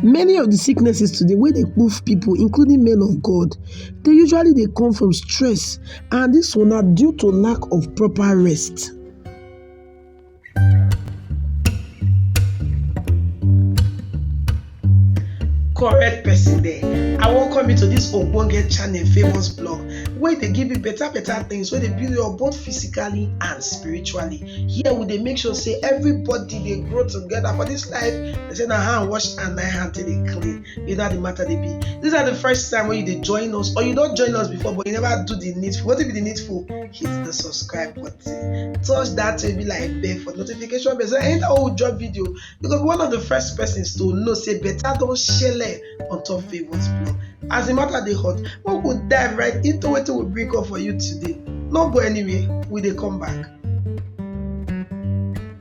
Many of the sicknesses today wey dey kpuf pipu including men of God dey usually dey come from stress and dis one na due to lack of proper rest. correct person there i welcome you to this ogbonge channel famous blog wey dey give you better better things wey dey build you up both physically and spiritually here we dey make sure say everybody dey grow together for this life They say na hand wash and na hand take dey clean. You know how the matter dey be. These are the first time when you dey join us or you don join us before but you never do the needful. What be the needful? Hit the subscribe button. Touch that baby like bell for notification bell. So anytime we drop video, you go be one of the first persons to know say better don shele on top Favour's blog. As the matter dey hot, we go dive right into wetin we bring up for you today. No go anywhere, we dey come back.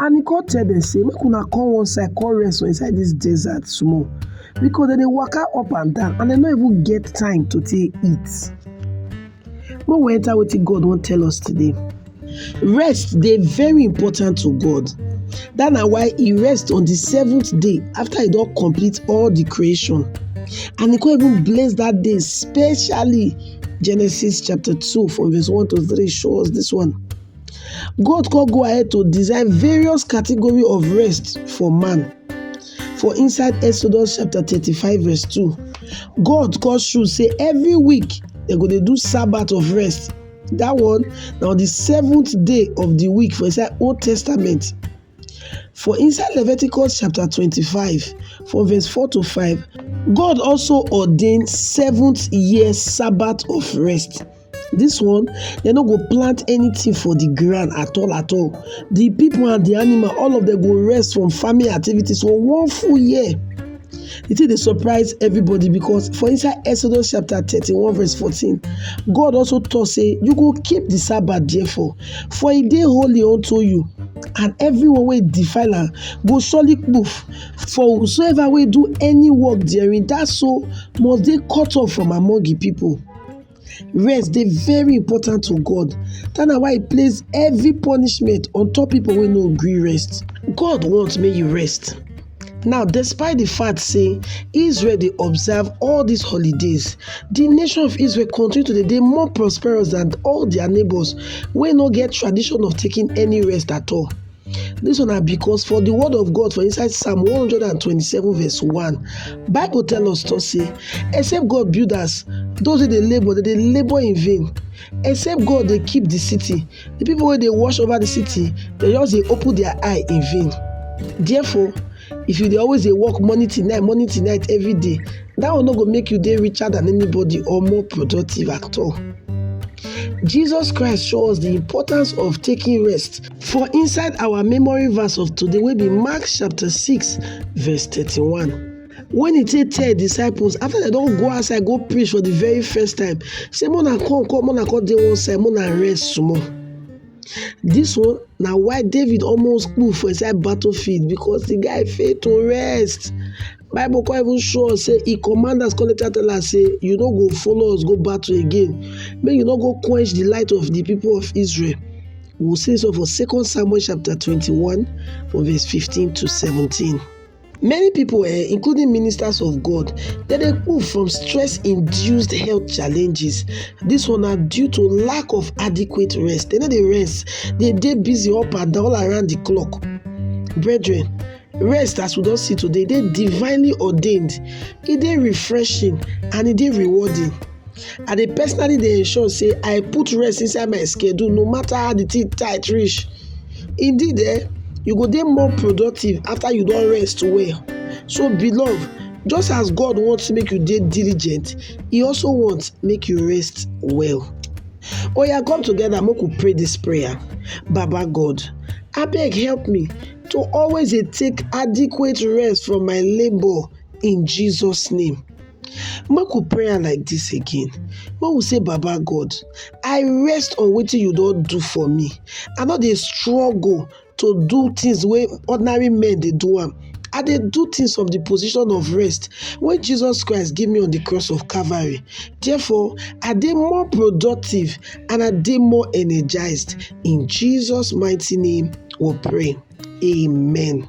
And he come tell dem say, make una come one side, come rest for inside this desert small. Because they dey waka up and down and they no even get time to take eat. Make we enter wetin God wan tell us today. Rest dey very important to God. That na why he rest on the seventh day after he don complete all the creation. And he come even bless that day specially. Genesis chapter 2 from verse 1 to 3 show us this one. God come go ahead to design various category of rest for man. For inside Exodus chapter 35 verse 2, God come show say every week they go dey do Sabbath of rest. That one now the seventh day of the week for inside Old Testament. For inside Leviticus chapter 25, from verse 4 to 5, God also ordained seventh year Sabbath of rest. this one they no go plant anything for the ground at all at all the people and the animal all of them go rest from farming activities for one full year the thing dey surprise everybody because for inside exodus chapter thirty-one verse fourteen god also talk say you go keep the sabbath therefore for e dey holy unto you and everyone wey defile am go surely kpuf for whosoever wey do any work therein that so must dey cut off from among the people Rest dey very important to God, dat na why he place heavy punishment on top people wey no gree rest. God want make you rest. Now despite the fact say Israel dey observe all these holidays, the nation of Israel continue to dey dey more prosperous than all their neighbors wey no get tradition of taking any rest at all. Dis one na because for the word of God for inside Psalm 127 verse 1, Bible tell us to say, except God build us, those wey dey labour, they dey labour in vain. Except God dey keep the city, the people wey dey watch over the city, they just dey open their eye in vain. Therefore, if you dey always dey work morning till night, morning till night every day, that one no go make you dey richer than anybody or more productive at all. Jesus Christ show us the importance of taking rest. For inside our memory verse of today wey be Mark chapter 6 verse 31. When he take tell disciples after they don't go outside go preach for the very first time say mona come come mona come dey one side mona rest small. This one now why David almost kpu for inside battlefield because the guy failed to rest. Bible come even show us say he command us come later tell us say you don't go follow us go battle again May you not go quench the light of the people of Israel. We'll say so for 2 Samuel chapter 21, from verse 15 to 17. Many people, eh, including ministers of God, they dey move from stress-induced health challenges. This one na due to lack of adequate rest. They no dey rest. They dey busy up and down all around the clock. Brethren, rest as we don see today dey divinely ordained. E dey refreshing and e dey rewarding. I dey personally dey ensure sey I put rest inside my schedule no matter how de thing tight reach indeed um you go dey more productive after you don rest well so beloved just as God want make you dey diligent he also want make you rest well oya come together make we pray this prayer baba God abeg help me to always dey take adequate rest from my labour in Jesus name. Make we pray am like dis again, make we say baba God I rest on wetin you don do for me, I no dey struggle to do things wey ordinary men dey do am, I dey do things from the position of rest wey Jesus Christ give me on the cross of Calvary therefore I dey more productive and I dey more energized in Jesus mighty name we pray amen.